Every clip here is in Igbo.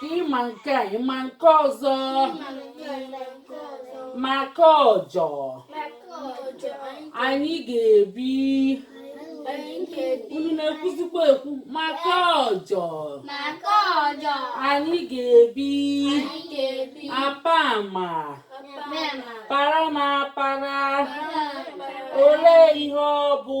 ka ịma nke a ịma nke ọzọ maka ọjọ anyị ga-ebi unu na-ekwuzikwa ekwu maka ọjọ anyị ga-ebi apa ma para m apara olee ihe ọ bụ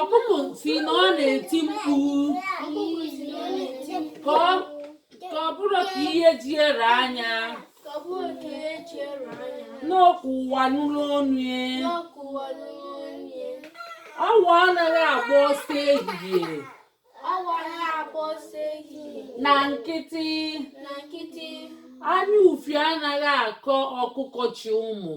Ọkụkụ sị na ọ na-eti mkpu ka ọ bụrụ ka ihe ji e raa nya n'okwu ụwa nụrụ onu e. awọ anaghị agba ọsọ ehihie na nkịtị anya ufie anaghị akọ ọkụkụ chị ụmụ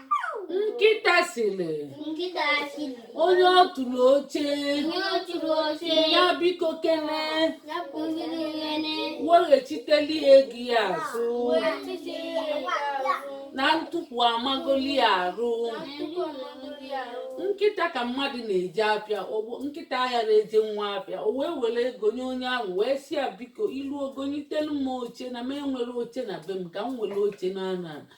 nkịta sịrị onye ọ tụrụ oche ya biko kene weghachiteli ya ego ya azụ na ntukwu amagoli ya arụ nkịta ka mmadụ na-eje apịa nkịta ayara eje nwa apịa o wee were ego nye onye ahụ wee sị ya biko i luo gonyitelu m oche na m enwerọ oche na be m ka m were oche na ana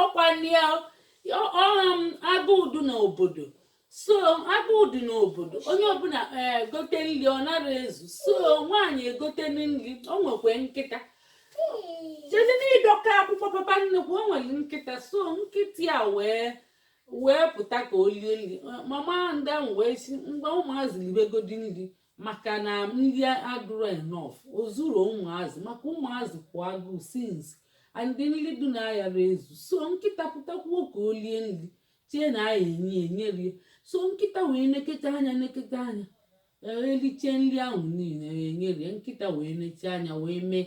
ọkwa unu ma agụụ dị n'obodo so agụụ dị n'obodo onye ọbụla egote nri ọ nara ezu so nwaanyị egotenu nri o nwee nkịta jezi n'ịdọka akwụkwọ papa nnukwu o nwere nkịta so nkịta ya wee wee pụta ka o lie nri mama ndị ahụ wee sị mba ụmụazị libegodi nri maka na nri adụrọ enough o zurọ ụmụazị maka ụmụazị kwụ agụụ since and nri dị na ayara ezu so nkịta pụtakwuo ka o lie nri chee na a ya-enye enye rie so nkịta wee neketa anya neketa anya erichee nri ahụ niile enye rie nkịta wee nechaa anya wee mee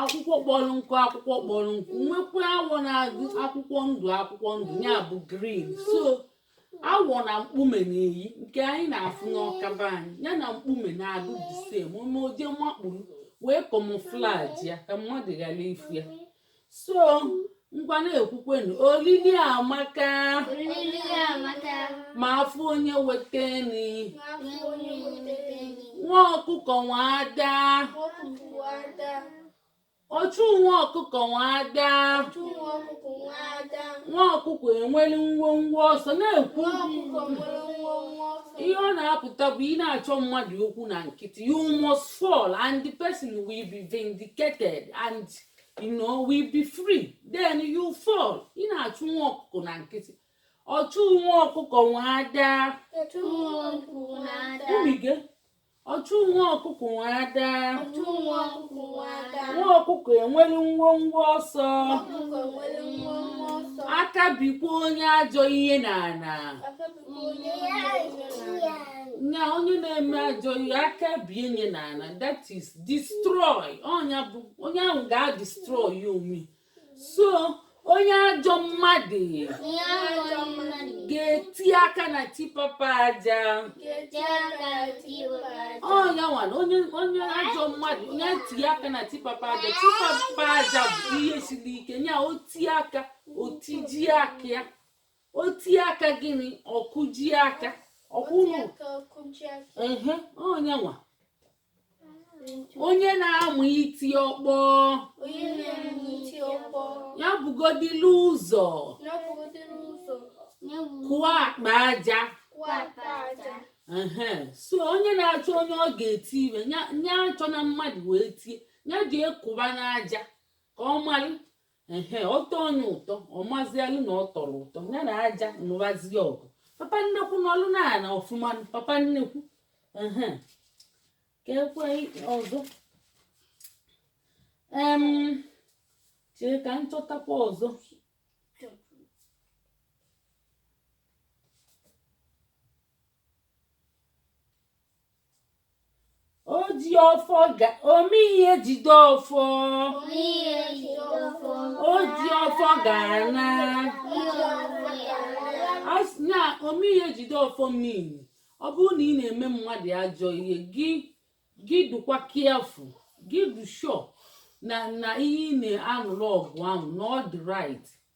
akwụkwọ kpọrọ nkụ akwụkwọ kpọrọ nkụ nwekwa awọ na-adụ akwụkwọ ndụ akwụkwọ ndụ ya bụ green so awọ na mkpume na-eyi nke anyị na-afụ n'Ọka be anyị ya na mkpume na-adụ the same o mee o jee makpuru wee camouflage ya ka mmadụ ghara ịfụ ya so ngwa na-ekwukwenu olili amaka Olili amaka, ma afọ onye weteni afọ onye weteni, nwa ọkụkọ nwa ada ọkụkụ ada, ọchụ nwa ọkụkọ nwa ada chụ nwa ọkụkụ nwa ada, nwa ọkụkọ enweli ngwongwo ọsọ na-ekwu nwa ọkụkọ nwere nwa nwa ọsọ. ihe ọ na-apụta bụ ị na-achọ mmadụ okwu na nkịtị you must fall and the person will be vindicated and you know will be free then you fall ị na-achụ nwa ọkụkọ na nkịtị ọchụ nwa ọkụkọ nwe ada umige ọchụ nwa ọkụkọ nwe ada nwa ọkụkọ enwere nwọnwọ ọsọ aka bikwa onye ajọ ihe n'ana na onye na-eme ajọ ihe aka bie nya n'ana that is destroy ọ nya bụ onye ahụ ga-destroy onwe so onye ajọ mmadụ ga-eti aka na tipapa aja ọ nya nwa na onye ajọ mmadụ onye tinye aka na tipapa aja tipapa aja bụ ihe siri ike nya o ti aka o tiji aka ya o tie aka gịnị ọ kụji aka ọkwụnụ ọ nya nwa onye na-amụ iti ọkpọ nya bugodilu ụzọ kụọ akpa aja so onye na-achọ onye ọ ga-eti ihe nya achọna mmadụ wee tie nya jee kụba n'aja ka ọ mara ehe ọ tọ onye ụtọ ọ mazialụ na ọ tọrọ ụtọ ya na aja nụbazi ọgụ papa nnekwu nọlụ n'ana ọfụma papa nnekwu ehe ka e kwue ọzọ em chee ka m chọtakwa ọzọ o ji ọfọ ga ome ihe jide ọfọ o ji ọfọ ga-ana a sị na ome ihe jide ọfọ mean ọ bụrụ na ị na-eme mmadụ ajọ ihe gị gị dụkwa careful gị dụ sure na na ihe ị na-anụrụ ọgụ ahụ na ọ dị right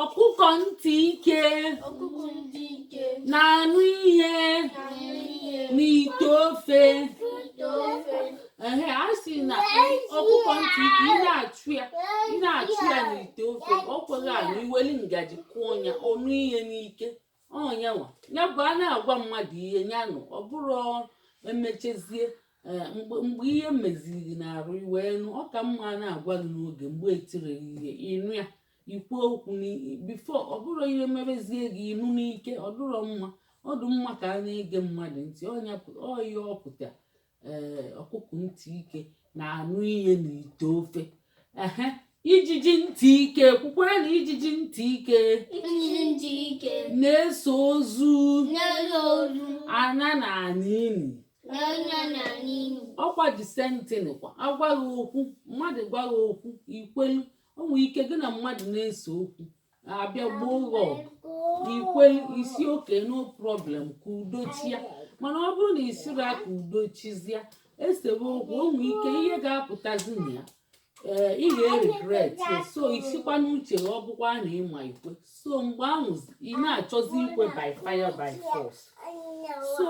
ọkụkọ ntị ike na-anụ ihe n'ite ofe ehe a sị na ọkụkọ ntị ike ị na-achụ ya ị na-achụ ya n'ite ofe ọ kweghị anụ i weli ngaji kụọ ya ọ nụ ihe n'ike ọ nya nwa nya bụ a na-agwa mmadụ ihe ya nụ ọ bụrọ emechezie eh, mgbe ihe meziri n'arụ i wee nụ ọ ka mma a na-agwa gị n'oge mgbe etiri ihe ị nụ ya ikwu okwu before ọ bụrụ ihe mebezie gị ị nụ n'ike ọ dụrọ mma ọ dị mma ka a na-ege mmadụ ntị ọ ya ọ pụta ee ọkụkụ ntị ike na-anụ ihe na ite ofe ehe ijiji ntị ike kwukwara na ijiji ntị ike na-eso ozu ana n'ini ọkwa the same thing kwa a gwa gị okwu mmadụ gwa gị okwu i kwelu o nwere ike gị na mmadụ na-ese okwu a bịa gboo ọgụ i kwe ị sị okay no problem ka udo chia mana ọ bụrụ na ị sịrọ ka udo chizia e sewe okwu o nwere ike ihe ga-apụtazi na ya ee ị ga-eregret so ị sịkwa n'uche ọ bụkwa na ị ma i kwe so mgbe ahụ ị na-achọzi ikwe by fire by force so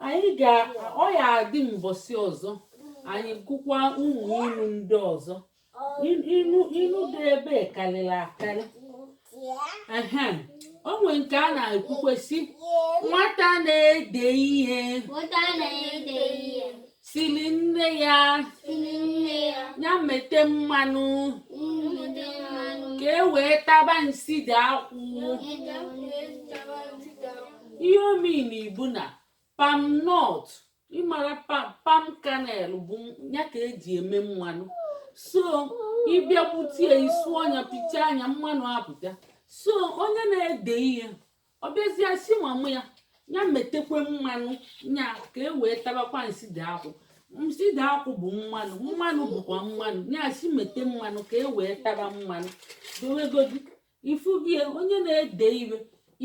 anyị ga ọ ya adị mbọsị ọzọ anyị gụkwa ụmụ ilu ndị ọzọ ilu dị ebe karịrị akarị ehe o nwere nke a na-ekwukwa sị nwata na-ede ihe sịrị nne ya ya mete mmanụ ka e wee taba nsị dị akwụ ihe ọ mean bụ na palm nut ị mara palm kernel bụ ya ka e ji eme mmanụ so ị bịa gbutie i suo nya pịchaa nya mmanụ apụta so onye na-ede ihe ọ bịazie sị mama ya ya metekwe mmanụ nya ka e wee tabakwa nsị dị akwụ nsị dị akwụ bụ mmanụ mmanụ bụkwa mmanụ nya sị mete mmanụ ka e wee tara mmanụ dowegodi ị fụbie onye na-ede ihe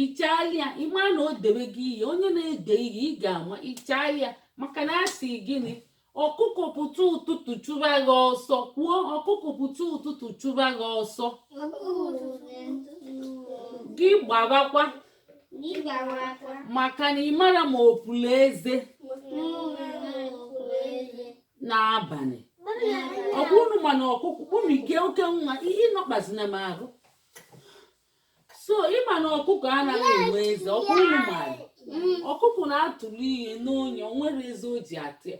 ị chaalị ya ị ma na o debe gị ihe onye na-ede ihe ị ga-ama ị chaalị ya maka na a sị gịnị ọkụkọ pụta ụtụtụ chụba gị ọsọ kwuo ọkụkọ pụta ụtụtụ chụba gị ọsọ gị gbawakwa maka na ị marọ ma o pulu eze n'abalị ọkwa unu ma na ọkụkụ unu ike oke nwa ihe nọkpazina m ahụ so ị ma na ọkụkọ anaghị enwe eze ọkwa unu maara ọkụkọ na-atụli ihe n'ọnụ ya o nwerọ eze o ji ata ya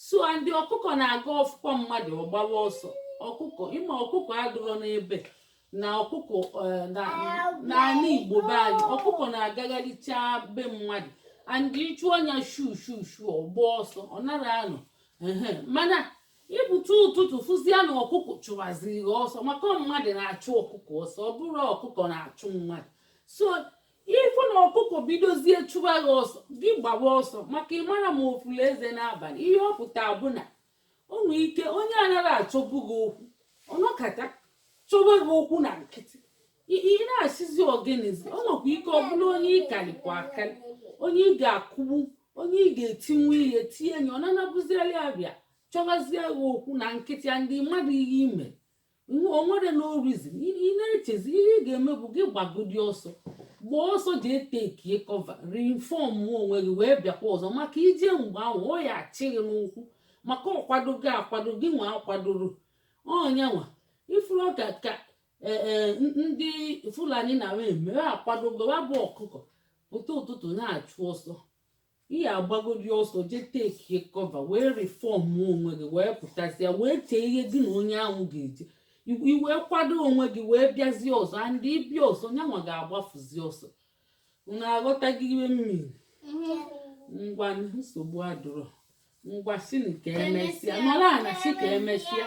so and ọkụkọ na-aga ọ fụkwa mmadụ ọ gbawa ọsọ ọkụkọ ị ma ọkụkọ adụrọ n'ebe na ọkụkọ eh, n'ala igbo be anyị ọkụkọ na-agagharịcha be mmadụ and ị chụọ nya shu shu shu ọ gbaa ọsọ ọ nara anọ mana ị pụta ụtụtụ fụzie na ọkụkọ chụwaziri gị ọsọ maka mmadụ na-achụ ọkụkọ ọsọ ọ bụrọ ọkụkọ na-achụ mmadụ so ị fụ na ọkụkọ bidozie chụwa gị ọsọ gị gbawa ọsọ maka ị marọ ma o pulu eze n'abalị ihe ọ pụta bụ na o nwere ike onye anaghị achọbu gị okwu ọ nọkata chọba gị okwu na nkịtị ị na-asịzi ọ gịnịzi o nwekwa ike ọ bụrụ onye ị karịkwa akarị onye ị ga-akụgbu onye ị ga-etinwu ihe tinye enyi ọ na-anabụziali abịa chọbazie gị okwu na nkịtị ya ndị mmadụ ihe ime o nwere no reason ị na-echezi ihe ị ga-eme bụ gị gbagodi ọsọ gbaa ọsọ jee takie cover reinform onwe gị wee bịakwa ọzọ maka i jee mgbe ahụ ọ ya-achị gị n'ụkwụ maka ọ kwado gị akwado gị nwa akwadorọ nyanwa ị fụrụ ka ka e, e, ndị fulani na-eme akwadogo ọ bụ ọkụkọ pụta ụtụtụ na-achụ ọsọ ị ya-agbagodi ọsọ jee takie cover wee reform onwe gị wee pụtazịa wee chee ihe gị na onye ahụ ga-eje i wee kwado onwe gị wee bịazie ọzọ and ị bịa ọzọ nyanwa ga-agbafuzi ọsọ unu aghọtago ihe m mean ngwa nsogbu adụrọ ngwa sị ka emesịa nọrọ ana sị ka emesịa